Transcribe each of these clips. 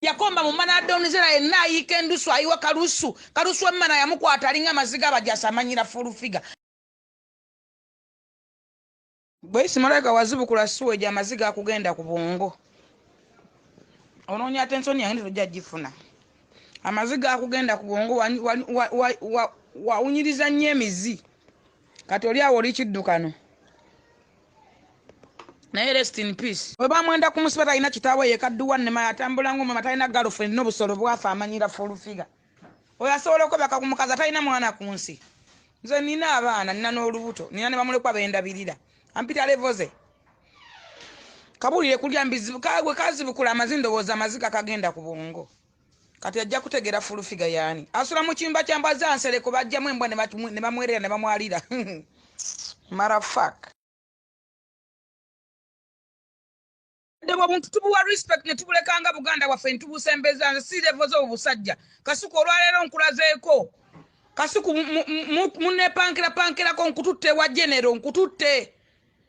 yakomba mu mana adonizera yenna ayiika endusu ayiwa kalusu kalusu emmana yamukwata alinga amaziga abajasi amanyira fulufiga bwe isimalayika wazibukula siwa egyo amaziga akugenda ku bwongo onoonya ate ensoni yange tojja gifuna amaziga akugenda ku bwongo wawunyiriza nnyo emizi kati oli awo oli kiddukano naye rest in peace webamwenda kumusiba talina kitaawe yekadduwa nema yatambula nga omwema talina galofrend nobusolo bwafa amanyira fulufiga oyo asobola okwebaka ku mukazi atalina mwana ku nsi nze nina abaana nina n'olubuto nina ne bamulekwa bendabirira ampita levoze kabulire kulya mbizibu kagwe kazibukula amazi ndowooza amaziga kagenda ku bwongo kati ajja kutegera full figure yani asula mu kiyumba kya mbwa za nsereko bajjamu embwa ne bamwerera ne bamwalira marafak ddewa buntu tubuwa respect ne tubulekanga buganda waffe ntubusembeza nze si levo zo obusajja kasuku olwaleero nkulazeeko kasuku munepankirapankirako nkututte wa genero nkututte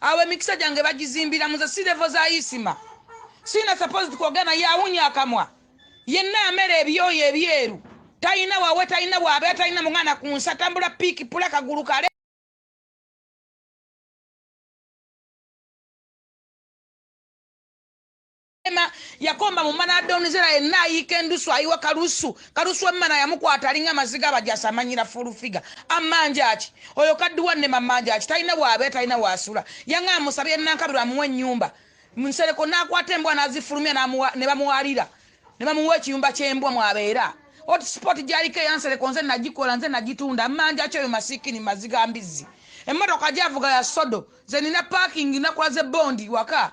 awo emikisa gyange bagizimbira muze si levo za isima sina supposed kwogera naye awunya akamwa yenna amera ebyoyo ebyeru talina wawe talina waabera talina mwana ku nsi atambula piiki pula kagulu kale Ema yakomba mu mana donizera yenna ayiika endusu ayiwa kalusu kalusu emmana yamukwata alinga amaziga abajasi amanyira fulufiga amanjaki oyo kadduwa nema manjaki talina bwabe talina wasula yanga amusabye nankabirwa amuwa ennyumba nsereko nakwata embwa nazifulumya ne bamuwalira ne bamuwa ekiyumba ky'embwa mwabeera hotspot gyaliko eyansereko nze nagikola nze nagitunda amanjaki oyo masikini maziga mbizzi emmotoka gyavuga ya sodo zenina parking nakola ze bondi waka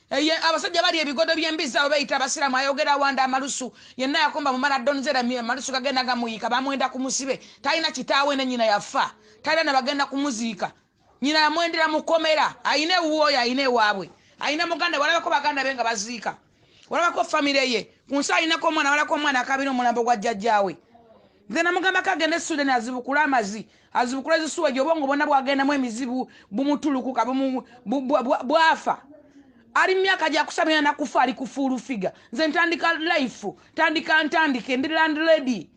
Eye abasajja bali ebigodo by'embizzi abo beyita abasiraamu ayogera wanda amalusu yenna yakomba mu maradon zera amalusu gagenda gamuyiika bamwenda ku musibe talina kitaawe ne nyina yafa talina na bagenda kumuziika nyina yamwendera mu komera ayina ewuwe oyo ayina ewaabwe ayina muganda walabako baganda be nga baziika walabako famire ye ku nsi ayinako omwana walabako omwana akabira omulambo gwa jjajjaawe Nze namugambako agende e Sweden azibukule amazi azibukule ezisuweji obwongo bwonna bwagendamu emizibu bumutulukuka bwafa ali mumyaka gyakusamira nakufa ali kufuulufiga nze ntandika life tandika ntandike ndi landlady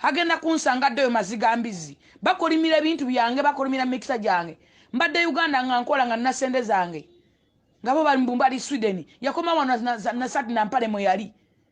agenda kunsanga addeyo maziga mbizi bakolimira ebintu byange bakolimira mikisa gyange mbadde uganda nga nkola nga nasente zange ngabo balimbumba ali sweden yakoma wano nasati nampale mweyali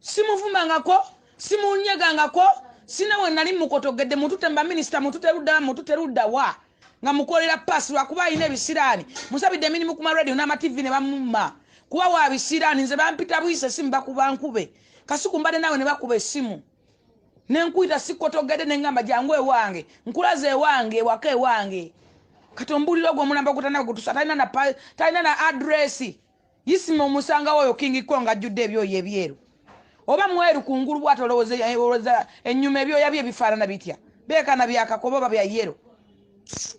simuvumangako simunyegangako sina we nali mukotogedde mutute mba minisita mutute ludda mutute ludda wa nga mukolera paasi lwakuba alina ebisiraani musabidde emirimu ku maradio n'amativi ne bamumma kuba wa bisiraani nze bampita buyisa esimu bakuba nkube kasuku mbadde naawe ne bakuba esimu ne nkuyita sikotogedde ne ngamba jangu ewange nkulaza ewange ewaka ewange kati ombuulira ogwo omulamba ogutanagutusa talina na adresi Isma omusangawo oyo king ko ngajjudde ebyoyo ebyeru oba mweru kungulu bwati olowooza eh, ennyuma ebyoya bye bifaanana bitya beekana byakakoba oba bya yero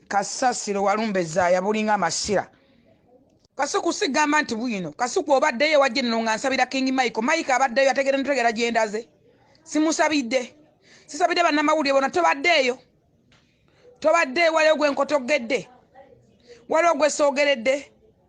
kasasiro walumba ezaaya bulinga amasira kasuku sigamba nti bwino kasuku obaddeyo wajje nino nga nsabira king michael mike abaddeyo ategere ntegera gyendaze simusabidde sisabidde bannamawulire bona tobaddeeyo tobaddeeyo waliwo gwe nkotogedde waliwo gwe soogeredde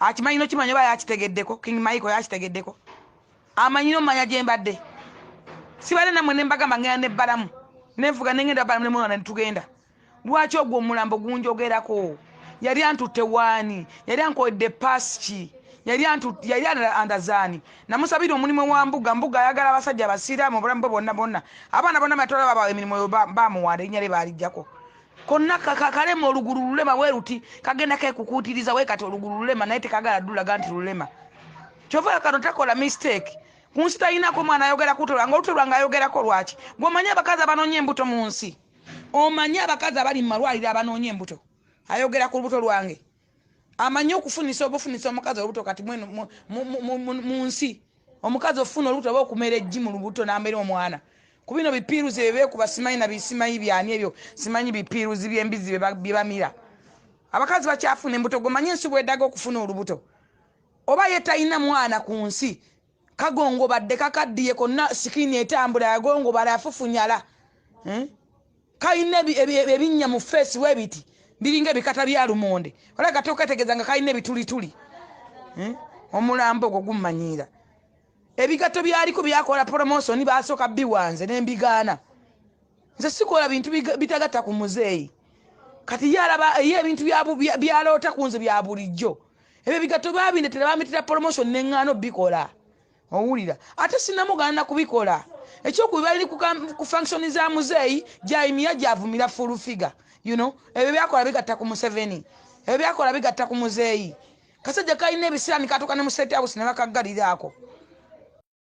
akimanyi nokimanya oba yakitegeddeko king michael yakitegeddeko amanyi nomanya gyembadde sibadde namwe nembagamba ngenda nebbalamu nenvuga nengenda balamu nemwana netugenda lwaki ogwo omulambo gunjogerako yali antutte waani yali ankoledde paski yali andazaani namusabira omulimu wa mbuga mbuga ayagala abasajja abasiiraamu obulamu bwe bonna bonna abaana bonna matwala babawa emirimu oyo bamuwanda erinnya lye baalijjako konna kakalema olugulu lulema weruti kagenda kekukuutiriza we kati olugulu lulema naye tekagala dulaga nti lulema kyova kano takola mistake kunsi talinako mwana ayogera kutola nga olutola nga ayogerako lwaki gweomanyi abakazi abanoonya embuto mu nsi omanyi abakazi abali mu malwaliro abanoonya embuto ayogera ku lubuto lwange amanyi okufunisa obufunisa omukazi olubuto kati mu nsi omukazi ofuna olubuto oba okumera ejji mu lubuto namera omwana ku bino bipiiruzi byebeekuba simanyi nabisimanyi byani ebyo simanyi bipiiruzi byembizi byebamira abakazi bakyafuna embuto gomanyi ensi bwedaga okufuna olubuto oba ye talina mwana ku nsi kagongobadde kakaddiye konna sikini etambula yagongobala afufunyala hmm? kalina ebinnya mu feesi webiti biringa ebikata bya lumonde ola kati oketegeeza nga kalina ebitulituli hmm? omulambo ogwo gummanyiira ebigatto byaliko byakola promotioni basooka biwanze nembigaana nze sikola bintu bitagatta ku muzeeyi kati ye alaba ye ebintu byaloota ku nze bya bulijjo ebyo ebigatto baabindetera bamitira promotion neŋŋaano bikola owulira ate sinamuganda kubikola ekyokubi bali ku function za muzeeyi jaimiya gyavumira full figure you know ebyo byakola bigatta ku museveni ebyo byakola bigatta ku muzeeyi kasajja kalina ebisiraani katuuka ne mu state house ne bakaggaliraako